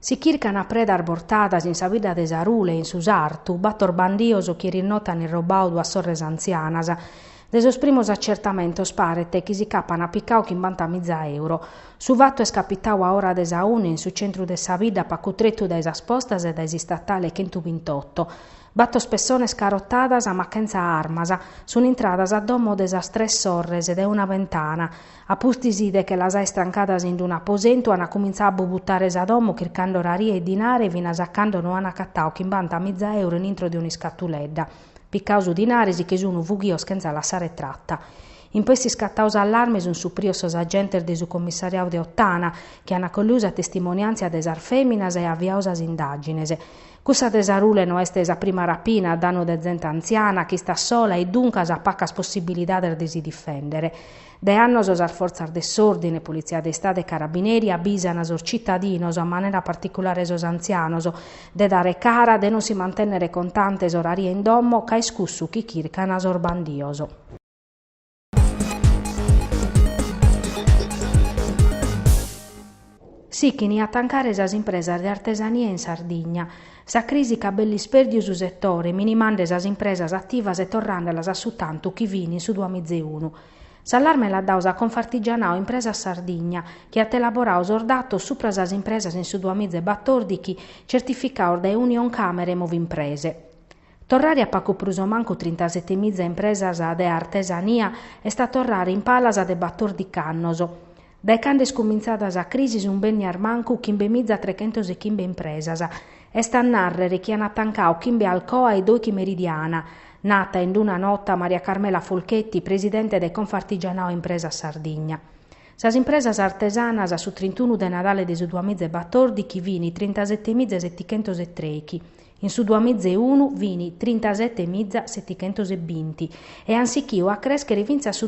Si chircan a predas bortadas in sa bidda de Sarule e in su sartu, bator bandios chi erinote an irrobau duas sorres antzianas. De sos primos acertamentos paret chi si ch'apan picau chimbanta miza euro. Su fatu est capitau a ora de sa una in su centru de sa bidda pacu tretu dae sas postas e dae s'istatale chentubintoto. Batos pessones carotadas ma chentza armas sun intradas a domo de sas tres sorres dae una bentana. A pustis de che las àer trancadas in unu aposentu, an cumintzau a bubutare sa domo chircande oraria e dinare, finas a cando no an acatau chimbanta miza euro in intro de un'iscatuledda. Picau su dinare, si che sun fughios chentza lassare trata. In pustis iscatau s'allarme sunt suprios sos agentes de su commissariau de Ottana, chi an acolliu sa testimoniantzia de sas feminas e aviau sas indagines. Cussa de Sarule no est sa prima rapina a danu de zente antziana, ch'istat sola e duncas at pacas possibilidades de si difendere. Dae annos sas fortzas de s'òrdine, Politzia de Istadu e Carabineri, abisan sos citadinos, a manera particulare sos antzianos, de dare cara, de non si mantènnere contantes o oraria in domo, ca est cussu chi chircan sos bandios. Sichin a tancare sas impresas de artesania in Sardigna. Sa crisi ch'at belle isperdiu su setore, minimande sas impresas ativas e torrandelas a su tantu chi fin in su duamizeunu. S'allarme l'at dau sa Confartigianao Impresas Sardigna, chi at elaborau sos datos supra sas impresas in su duamiza e batordichi, certificados dae Unioncamere Movimprese. Torrare a pacu prus o mancu trintasetemiza impresas de artesania est a torrare in palas de batordic'annos. Dae cando est cumintzada sa crisi sunt bennias mancu chimbemiza trechentos e chimbe impresas. Est a nàrrere chi an tancau chimbe Alcoa e Doichi Meridiana, nata in d-una nota Maria Carmela Folchetti, presidente de Confartigianao Impresas Sardigna. Sas impresas artesanas a su trintunu de Nadale de su duamiza e batordichi fini trintasetemiza e setichentos e treichi. In su duamizeunu fin trintasete miza setichentos e binti e an sichiu a crèschere fintzas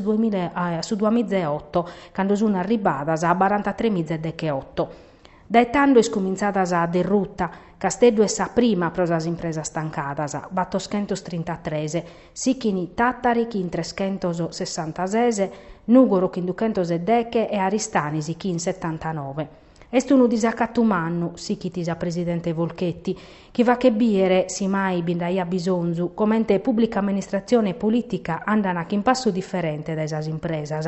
a su duamizeoto, cando sun arribbadas a barantatrè miza e decheoto. Dae tando est cumintzada sa derruta, Casteddu est sa prima pro sas impresas tancadas, batoschentos trintatres, Sichini Tàtari chin treschentos sessantases, Nùgoro chin duchentos e deche e Aristanis chin setantanove. Est unu disacatu mannu, sichit sa presidente Folchetti, chi fachet bìdere, si mai bi nd'aiat bisonzu, comente pùblica amministratzione e polìtica andan chin passu diferente dae sas impresas.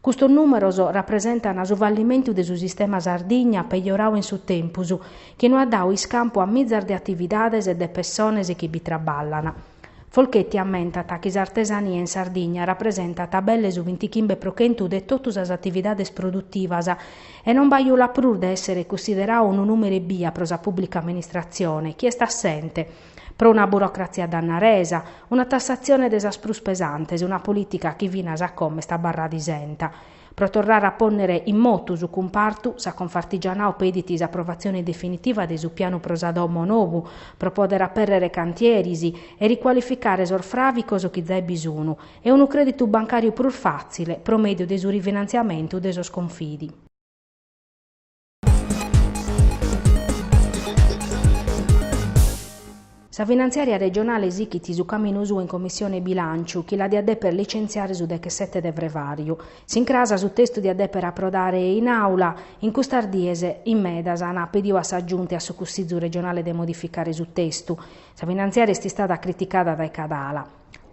Custos nùmeros rapresentan su fallimentu de su sistema Sardigna pejorau in su tempus, chi no at dau iscampu a mizas de atividades e de pessones chi bi traballan. Folchetti ammentat chi s'artesania in Sardigna rapresentat belle su bintichimbe pro chentu de totu sas atividades produtivas e non bajulat prus de èssere cussiderau unu nùmere ebbia pro sa pùblica amministratzione chi est assente, pro una burocratzia dannaresa, una tassatzione de sas prus pesantes, una polìtica chi finas a como est abarrada isenta. Pro torrare a pònnere in motu su cumpartu, sa Confartigianao pedit s'aprovatzione definitiva de su pianu pro sa domo nobu, pro pòdere apèrrere cantieris e ricualificare sos fràvicos chi zai bi sunu, e unu crèditu bancàriu prus fàtzile pro mèdiu de su rifinantziamentu de sos confidi. Sa finantziària regionale sichit su caminu suu in Commissione Bilànciu, chi la diat dèpere licentziare su dechesete de frevàriu. S'incras su testu diat dèpere aprodare in Àula, in custas dies, in medas ant pediu a sa Giunta e a su Cussizu regionale de modificare su testu. Sa finantziària est istada criticada dae cada ala.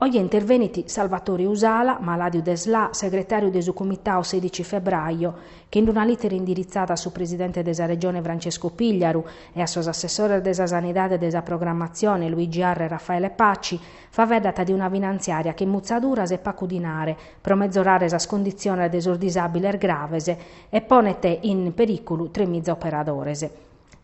Oje intervenit Salvatore Usala, malàdiu de sla, segretàriu de su Comitau sedici Febbraio, chi in una lìtera indiritzada a su presidente de sa Regione Francesco Pigliaru e a sos assessores de sa Sanidade e de sa Programmatzione Luigi Arru e Raffaele Paci, faveddat de una finantziària chin mutzaduras e pacu dinare pro mezorare sas conditziones de sos disàbiles graves e ponet in perìculu tremiza operadores.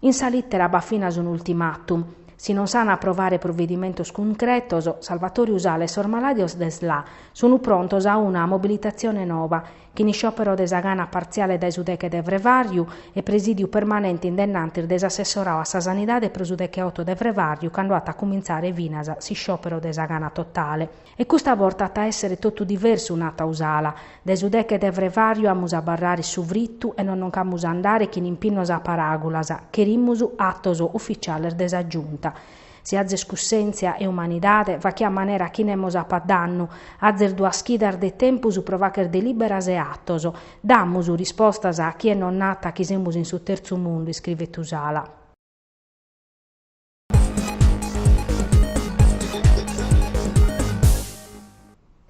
In sa lìtera b'at finas un ultimatum, si non s'an a aprovare provedimentos cuncretos, Salvatore Usala e sos malàdios de sla sunu prontos a una mobilitatzione noba, chin isciòpero de sa gana partziale dae su deche de frevàriu e presìdiu permanente in dennantis de s'assessorau a sa Sanidade pro su decheoto de frevàriu cando at a cumintzare finas s'isciòpero de sa gana totale. E custa borta at a èssere totu diversu, nat Usala. Dae su deche de frevàriu amus a abarrare su fritu e non noc'amus a andare chin impinnos a paràgulas, cherimus atos ufitziales de sa Giunta. Si azes cussèntzia e umanidade, fachie a manera chi nemos apat dannu, azes duas chidas de tempus pro fàcher delìberas e atos. Damus rispostas a chie nos nat chi semus in su terzu mundu, iscrivet Usala.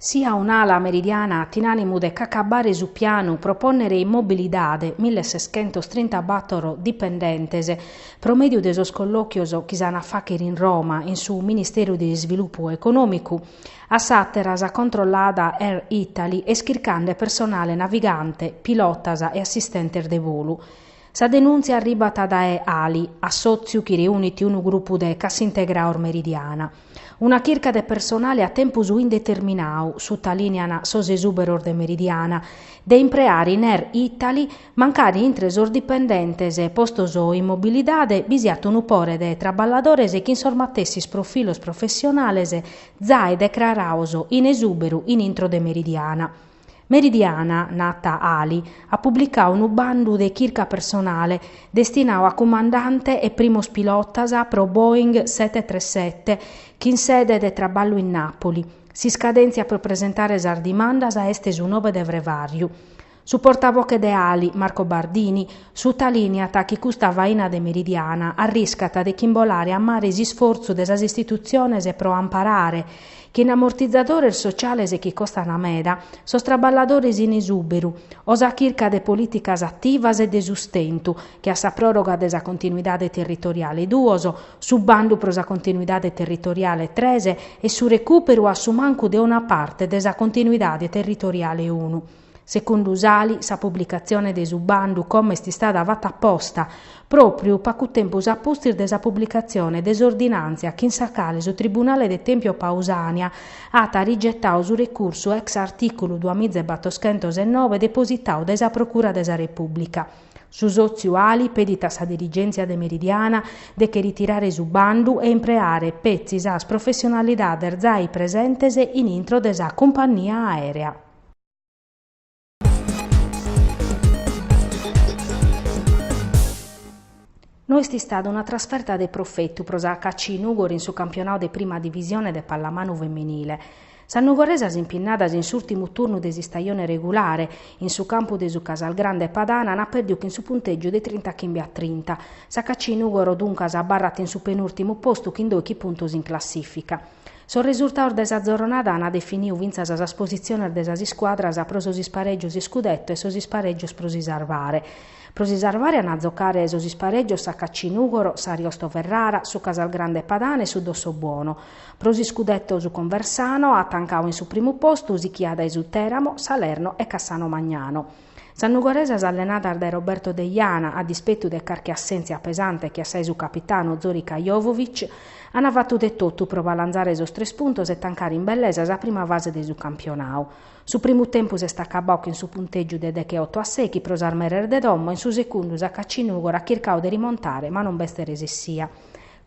Si a un'ala Meridiana at in ànimu de c'acabare su pianu pro pònnere in mobilidade mille seschentos trinta bàtoro dipendentes pro mèdiu de sos collòchios chi s'an a fàchere in Roma in su Ministeru de Isvilupu Econòmicu a s'àtera sa controllada Air Italy est chircande personale navigante, pilotas e assistentes de bolu. Sa denùntzia arribat dae Ali, assòtziu chi reunit unu grupu de Cassintegraos Meridiana. Una chirca de personale a tempus indeterminau, sutalìnean sos esùberos de Meridiana, de impreare in Air Italy, mancari intre sos dipendentes postos in mobilidade bi siat unu pore de traballadores chin sos matessis profilos professionales zae decraraos in esùberu in intro de Meridiana. Meridiana, nat Ali, at publicau unu bandu de chirca personale destinau a cumandante e primos pilotas pro Boeing sete-tres-sete chin sede de traballu in Nàpoli. S'iscadèntzia pro presentare sas dimandas est su nobe de frevàriu. Su portaboche de Ali, Marco Bardini, sutalìneat chi custa faina de Meridiana arriscat de chimbolare a mare s'isfortzu de sas istitutziones pro amparare Chin amortizadores sociales chi costan meda, sos traballadores in esùberu, o sa chirca de polìticas ativas e de sustentu, che a sa pròroga de sa continuidade territoriale duos, su bandu pro sa continuidade territoriale tres e su recùperu a su mancu de una parte de sa continuidade territoriale unu. Segundu s'Ali, sa publicatzione de su bandu como est istada fata aposta, pròpriu pagu tempus a pustis de sa publicatzione de s'ordinàntzia chin sa cale su tribunale de Tempio Pausània at rigetau su recursu ex artìculu duamiza e batoschentos e noe depositau dae sa Procura de sa Repùblica. Su sòtziu Ali pedit a sa dirigèntzia de Meridiana de che ritirare su bandu e impreare petzi sas professionalidades zai presentes in intro de sa cumpannia aèrea. No est istada una trasferta de profetu pro s'HC Nùgoro in su campionadu de Prima Divisione de pallamanu feminile. Sas nugoresas impinnadas in s'ùrtimu turnu de s'istajone regulare, in su campu de su Casalgrande Padana ant pèrdiu chin su puntègiu de trinta chimbe a trinta. S'HC Nùgoro duncas abarrat in su penùrtimu postu chin doighi puntos in classìfica. Sos resurtados de sa zorronada ant definiu fintzas sas positziones de sas iscuadras pro sos isparègios iscudetto e sos isparègios pro si sarvare. Pro si sarvare ant a zocare sos isparègios s'HC Nùgoro, s'Ariosto Ferrara, su Casalgrande Padana e su Dossobuono. Pro s'iscudetto su Conversano at tancau in su primu postu sichia dae su Tèramo, Salerno e Cassano Magnano. Sas nugoresas allenadas dae Roberto Deiana, a dispetu de carchi assèntzia pesante che a sa 'e su capitanu Zorica Jovovic, ant fatu de totu pro balanzare sos tres puntos e tancare in bellesa sa prima fase de su campionau. Su primu tempus est acabau chin su puntègiu de degheoto a sèighi pro sas meres de domo e in su segundu s'HC Nùgoro at chircau de rimontare ma non b'est resessia.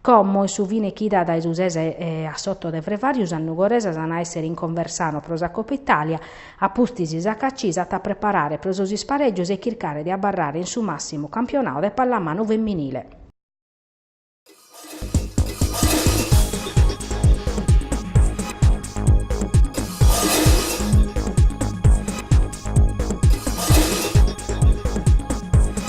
Como in su fine chida dae su ses a s'oto de Frevàriu sas nugoresas an a èssere in Conversano pro sa Copa Itàlia, a pustis sa HAC s'at a preparare pro sos isparègios e chircare de abarrare in su màssimu campionadu de pallamanu feminile.